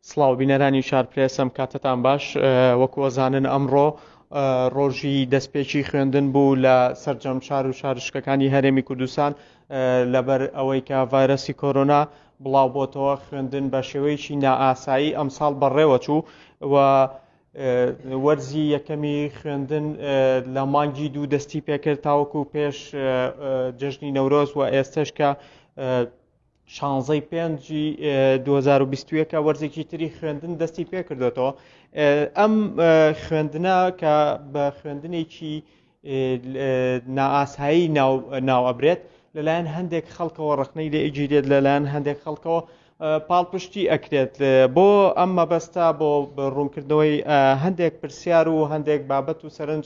سڵاو بینەرانی چارپلێسم کاتتان باش وەکو ئەزانن ئەمڕۆ ڕۆژی دەستپێکی خوێندن بوو لە سەررجەم شار و شارشکەکانی هەرێمی کوردستان لەبەر ئەوەی کە ڤایرۆسی کۆرۆنا بڵاو بۆتەوە خوێندن بە شێوەیەکی نائاسایی ئەمساڵ بەڕێوە چوو و وەرزی یەکەمی خوێندن لە مانگی دوو دەستی پێکرد تاوەکو پێش جژنی نەورۆز و ئێستش کە شانزەی پێنجی دوو هەزار و بیست و یەکە وەرزێکی تری خوێندن دەستی پێ کردوێتەوە ئەم خوێندنە کە بە خوێندنێکی نائاسایی ناو ئەبرێت لەلایەن هەندێک خەڵکەوە ڕخنەی لێ ئەگیرێت لەلایەن هەندێک خەڵکەوە پاڵپشتی ئەکرێت بۆ ئەم مەبەستا بۆ ڕوونکردنەوەی هەندێک پرسیار و هەندێک بابەت و سەرنج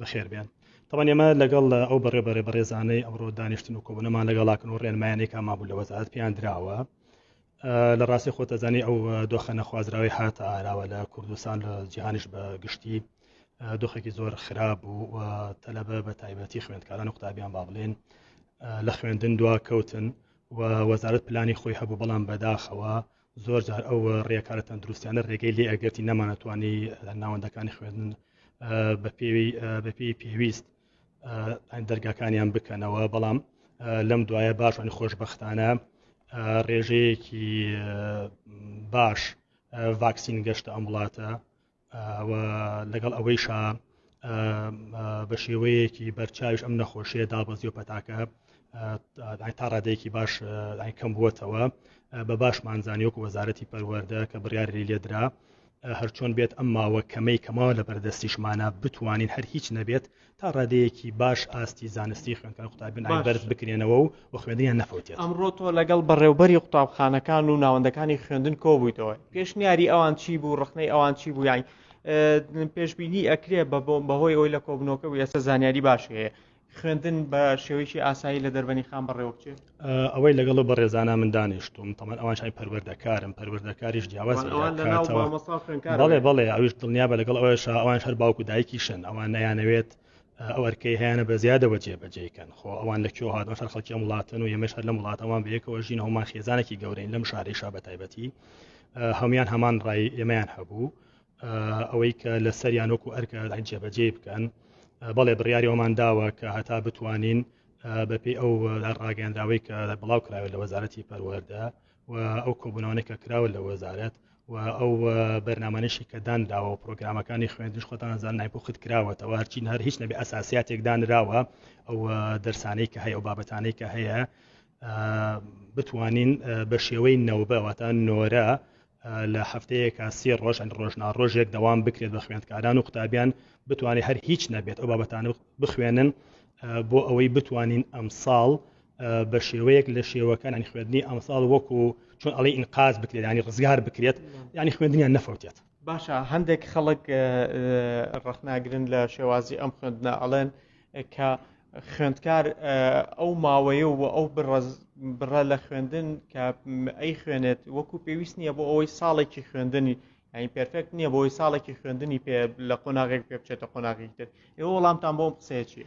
بەخێر بێن تەوان ئێمە لەگەڵ ئەو بەڕێ بەڕێ بەڕێزانەی ئەمڕۆ دانیشتن و کۆبنەمان لەگەڵاکن و ڕێنمایانێک مابوو لە وەزارت پێیان دراوە لە ڕاستی خۆتەزانی ئەو دۆخە نەخوازراوی هاتە ئاراوە لە کوردستان لە جیهانیش بە گشتی دۆخێکی زۆر خراپ بوو و تەلەبە بە تایبەتی خوێندکاران و قوتابیان با بڵێن لە خوێندن دوا کەوتن و وەزارت پلانی خۆی هەبوو بەڵام بەداخەوە زۆر جار ئەو ڕێکارە تەندروستیانە ڕێگەی لێ ئەگەرتی نەمانەتوانی ناوەندەکانی خوێندن بە پێوی بە پێی پێویست دەرگاکانیان بکەنەوە بەڵام لەم دوایە باشانی خۆشببختانە ڕێژەیەکی باش ڤاکسین گەشتە ئەم وڵاتە و لەگەڵ ئەوەیشا بە شێوەیەکی بەرچاوش ئەم نەخۆشیە دابەزی و پەتاکە تا ڕادەیەکی باش کەم بووتەوە بە باشمان زانیۆک وەزارەتی پەروەەردە کە بڕیاری لێدرا هەرچۆن بێت ئەم ماوە کەمەی کەماوە لە بەردەستیشمانە بتوانین هەر هیچ نەبێت تا ڕادەیەکی باش ئاستی زانستی خوێنکار قوتابیان بەرز بکرێنەوە و و خوێندنیان نەفەوتێت ئەمڕۆ تۆ لەگەڵ بەڕێوبەری قوتابخانەکان و ناوەندەکانی خوێندن کۆبوویتەوە پێشنیاری ئەوان چی بوو ڕخنەی ئەوان چی بوو یانی پێشببینی ئەکرێ بە بۆم بەهۆی ئەوی لە کۆبنەوەکە و ئێستا زانیاری باش هەیە خوێندن بە شێوەیەکی ئاسایی لە دەربەنی خان بەڕێوە بچێت ئەوەی لەگەڵ و بەڕێزانە من دانیشتوم تەمان ئەوان شای پەروەردەکارم پەروەردەکاریش جیاواز بەڵێ بەڵێ ئەویش دڵنیا بە لەگەڵ ئەوە شا ئەوان هەر باوکو دایکیشن ئەوان نەیانەوێت ئەو ئەرکەی هەیەە بە زیادەوە جێبەجێکەن خۆ ئەوان لە کێ هاتن شەر خەڵکی وڵاتن و یەمەش هەر لە وڵاتەوان بەیەکەوە ژین هەمان خێزانێکی گەورەین لەم شارەی شا بە تایبەتی هەمان هەمان ڕای ئێمەیان هەبوو ئەوەی کە لە سەریان وەکو ئەرکە جێبەجێ بکەن بەڵێ بڕیاریەوەمان داوە کە هەتا بتوانین بەپی ئەو ڕاگەندراوەی کە بڵاو کراوە لە وەزارەتی پەروەەردە و ئەو کۆبوونەوەی کە کراوە لە وەزارەت و ئەو بەرنمانشی کە دانراوە و پرۆگرامەکانی خوێندش خۆتان زان نایپۆخت کراوەتەوە هەرچین هەر هیچ نەبێ ئەساسیاتێک دانراوە ئەو دەرسانەی کە هەیە و بابەتانەی کە هەیە بتوانین بە شێوەی نەوبە واتە نۆرە لە هەفتەیەکە سێ ڕۆژ ئەن ڕۆژنا ڕۆژێک دەوام بکرێت بە خوێندکاران و قوتابیان بتوانێت هەر هیچ نەبێت ئەو بابەتان بخوێنن بۆ ئەوەی بتوانین ئەم ساڵ بە شێوەیەک لە شێوەکان ئەنی خوێندنی ئەمساڵ وەکو چۆن ئەڵی ئینقاز بکرێت ینی ڕزگار بکرێت ینی خوێندنیان نەفەوتێت باشە هەندێک خەڵک ڕەخناگرن لە شێوازی ئەم خوێندنە ئەڵێن کە خوێندکار ئەو ماوەیە و ئەو بڕە لە خوێندن کە ئەی خوێنێت وەکو پێویست نییە بۆ ئەوەی ساڵێکی خوێندنی یعنی پرفێکت نییە بۆی ساڵێکی خوێندنی پێ لە قۆناغێک پێ بچێتە قۆناغی تر ئێوە وەڵامتان بۆم قسەیە چیە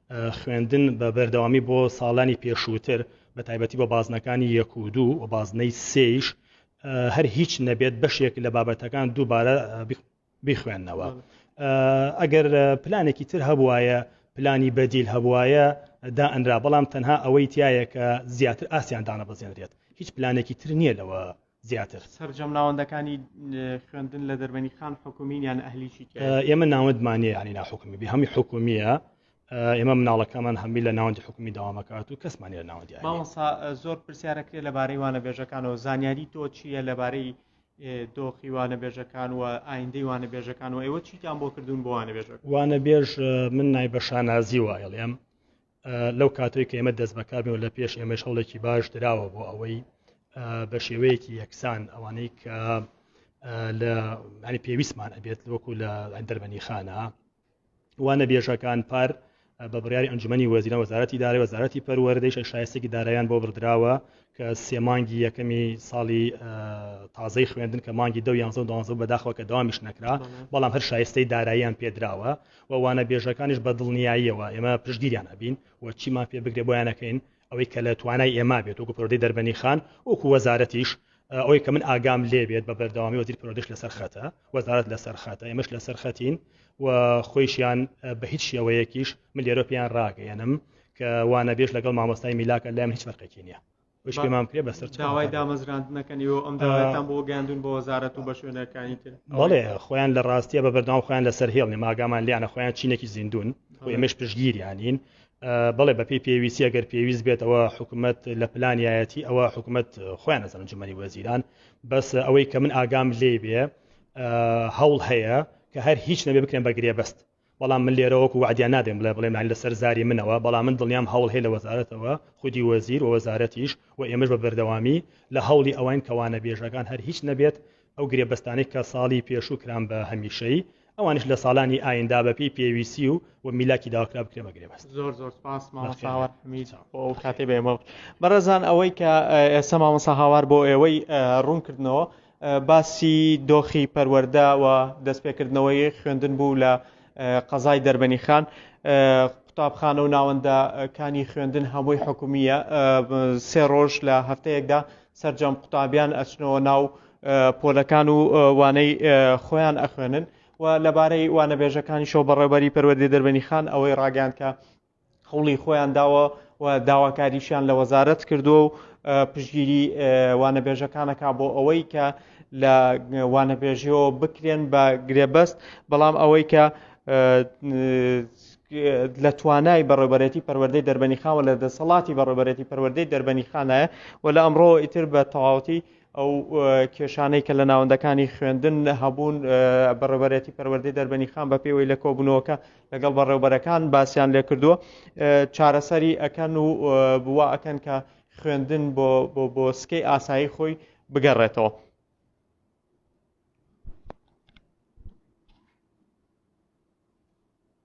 خوێندن بە بەردەوامی بۆ ساڵانی پێشووتر بە تایبەتی بۆ بازنەکانی یەک و دوو و بازنەی سێیش هەر هیچ نەبێت بەشێک لە بابەتەکان دووبارە بیخوێندنەوە ئەگەر پلانێکی تر هەبواە پلانی بەدیل هەبواە دا ئەنرا بەڵام تەنها ئەوەی تایە کە زیاتر ئاسیان دانە بەزێنرێت هیچ پلانێکی تر نییە لەوە زیاتر. سەرجەم ناوەندەکانی خوێندن لە دەربەنی خان حکومین یان ئەهلیی ئێمە ناوەندمانە یانی ناحکومی بێ هەمی حکومیە ئێمە مناڵەکەمان هەمی لە ناوەندی حکومی داوامەکات و کەسمانی لە ناوەندی ماوەسا زۆر پرسیارەکرێ لەبارەی وانە بێژەکانەوە زانیاری تۆ چییە لەبارەی دۆخی وانە بێژەکان و ئایندەی وانە بێژەکان و ئێوە چیتان بۆ کردوون بۆ وانە بێژە وانە بێژ من نایبە شانازی وایڵێم لەو کاتەوەی کە ئێمە دەست بەکاربێن و لە پێش ئێمەش هەوڵێکی باش دراوە بۆ ئەوەی بە شێوەیەکی یەکسان ئەوانەی کە لە ینی پێویستمان ئەبێت وەکو لە دەربەنی خانە وانە بێژەکان پار بە بڕیاری ئەنجومی وەزیرە وەزارەتی دارای وەزارەتی پەروەردەیش شایستێکی دارایان بۆ بردراوە کە سێمانگی یەکەمی ساڵی تازەی خوێندن کە مانگی دە یانزە و دانزە بەداخەوە کە داوامیش نەکرا بەڵام هەر شایستەی داراییان پێدراوە و وانەبێژەکانیش بە دڵنیاییەوە ئێمە پشتگیریان ئەبین و چیمان پێ بکرێ بۆیان ئەکەین، ئەوەی کە لە توانای ئێمە بێت وەکو پەروەردەی دەربەنیخان وەکو وەزارەتیش ئەوەی کە من ئاگام لێ بێت بە بەردەوامی وەزیر پەروەردەیش لەسەر خەتە، وەزارەت لەسەر خەتە، ئێمەش لەسەر خەتین و خۆیشیان بە هیچ شێوەیەکیش من لێرە پێیان ڕاگەیەنم کە وانەبێژ لەگەڵ مامۆستای میلاکە لای من هیچ فەرقێکی نییە. وش پێمان بکرێ بەسەر داوای دامەزراندنەکەنی و ئەم داوایتان بۆ گەاندون بۆ وەزارەت و بە شوێنەکانی تر بەڵێ خۆیان لە ڕاستیە بە بەردام خۆیان لەسەر هێڵنی ماگامان لیانە خۆیان چینێکی زیندون و ئێمەش پشگیریانین بڵێ بەپی پێویستی ئەگەر پێویست بێتەوە حکوومەت لە پلانایەتی ئەوە حکوومەت خۆیان نەزانن جمەنی وەزیران بەس ئەوەی کە من ئاگام لێ بێ هەوڵ هەیە کە هەر هیچ نەبێ بکەن بە گرێبەست بەڵام من لێرە وەکو وەعدیان نابێم بڵێ بڵێم یانی لەسەر زاری منەوە، بەڵام من دڵنیام هەوڵ هەیە لە وەزارەتەوە، خودی وەزیر و وەزارەتیش و ئێمەش بە بەردەوامی لە هەوڵی ئەوەین کە وانەبێژەکان هەر هیچ نەبێت ئەو گرێبەستانەی کە ساڵی پێشوو کران بە هەمیشەیی، ئەوانیش لە ساڵانی ئایندە بە پێی پێویستی و و میلاکی داواکرا بکرێن بە گرێبەست. زۆر زۆر سپاس مامۆستا هاوار حەمید بۆ ئەو کاتەی بە ئێمە بەخشی. بەڕێزان ئەوەی کە ئێستا مامۆستا هاوار بۆ ئێوەی ڕوون کردنەوە، باسی دۆخی پەروەردە و دەستپێکردنەوەی خوێندن بوو لە قەزای دەربەنیخان. قوتابخانە و ناوەندە کانی خوێندن هەمووی حکومیە سێ ڕۆژ لە هەفتەیەکدا سەرجەم قوتابیان ئەچنەوە ناو پۆلەکان و وانەی خۆیان ئەخوێنن و لەبارەی وانەبێژەکانیشەوە بەڕێوبەری پەروەردەی دەربەنی خان ئەوەی ڕاگەیان کە هەوڵی خۆیان داوە و داواکاریشیان لە وەزارەت کردووە و پشگیری وانەبێژەکانەکە بۆ ئەوەی کە لە وانەبێژیەوە بکرێن بە گرێبەست بەڵام ئەوەی کە لە توانای بەڕێبەرێتی پەروەردەی دەربەنی خاوە لە دەسەڵاتی بەڕێبەرێتی پەروەردەی دەربەنی خانایە و لە ئەمڕۆ ئیتر بە تەواوەتی ئەو کێشانەی کە لە ناوەندەکانی خوێندن هەبوون بەڕێبەرێتی پەروەردەی دەربەنی خان بە پێوەی لە کۆبوونەوەکە لەگەڵ بەڕێوبەرەکان باسیان لێکردووە چارەسەری ئەکەن و بوا ئەکەن کە خوێندن بۆ بۆ سکەی ئاسایی خۆی بگەڕێتەوە.